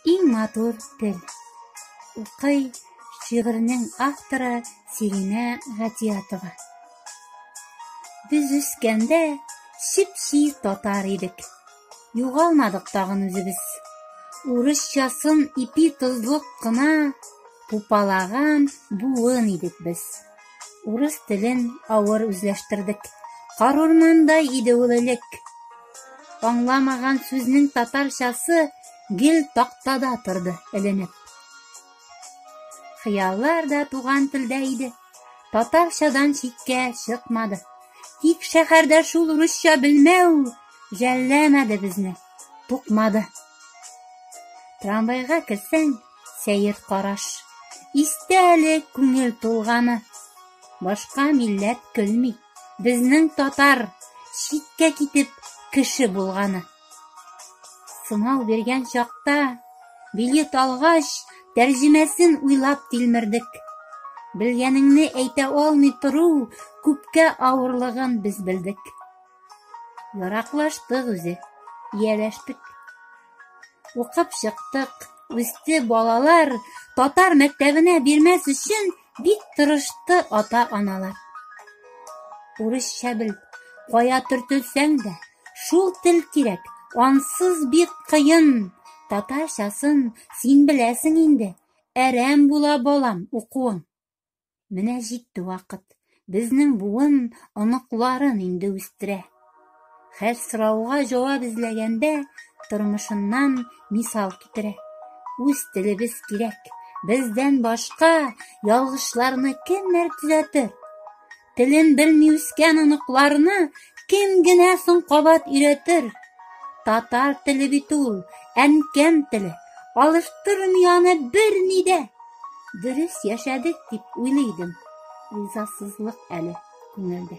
Иң матур тел. Укый шигыренең авторы Сиринә Гатиятова. Без үскәндә чипси татар идек. Югалмадык тагын үзебез. Урысчасын ипи тозлык кына пупалаган буын идек без. Урыс телен авыр үзләштердек. Карурманда иде ул элек. Аңламаган сүзнең татарчасы гел тактада торды эленеп. Хыяллар да туган телдә иде. Татарчадан читкә чыкмады. Тик шәһәрдә шул русча белмәү жәлләмәде безне, тукмады. Трамвайга керсәң, Сәер караш. Истә әле күңел тулганы. Башка милләт көлми. Безнең татар читкә китеп кеше булганы. Сынау биргән чакта билет алгач, тәрҗемәсен уйлап тилмердек. Белгәнеңне әйтә алмый тору күпкә авырлыгын без белдек. Яраклаштык үзе, ияләштек. Укып чыктык. Үсте балалар татар мәктәбенә бирмәс өчен бик тырышты ата-аналар. Урысча бел, кая төртелсәң дә, шул тел кирәк, ансыз бик кыен. Татарчасын син беләсең инде, әрәм була балам укуың. Менә җитте вакыт. Безнең буын оныкларын инде үстерә. Хәл сорауга җавап эзләгәндә тормышыннан мисал китерә. Үз телебез кирәк. Бездән башка ялгышларны кемнәр төзәтер? Телен белми үскән оныкларны кем генә соң кабат өйрәтер? Татар теле бит ул, әнкәм теле. Алыштырмый аны берни дә. Дөрес яшәдек дип уйлый идем. Ризасызлык әле күңелдә.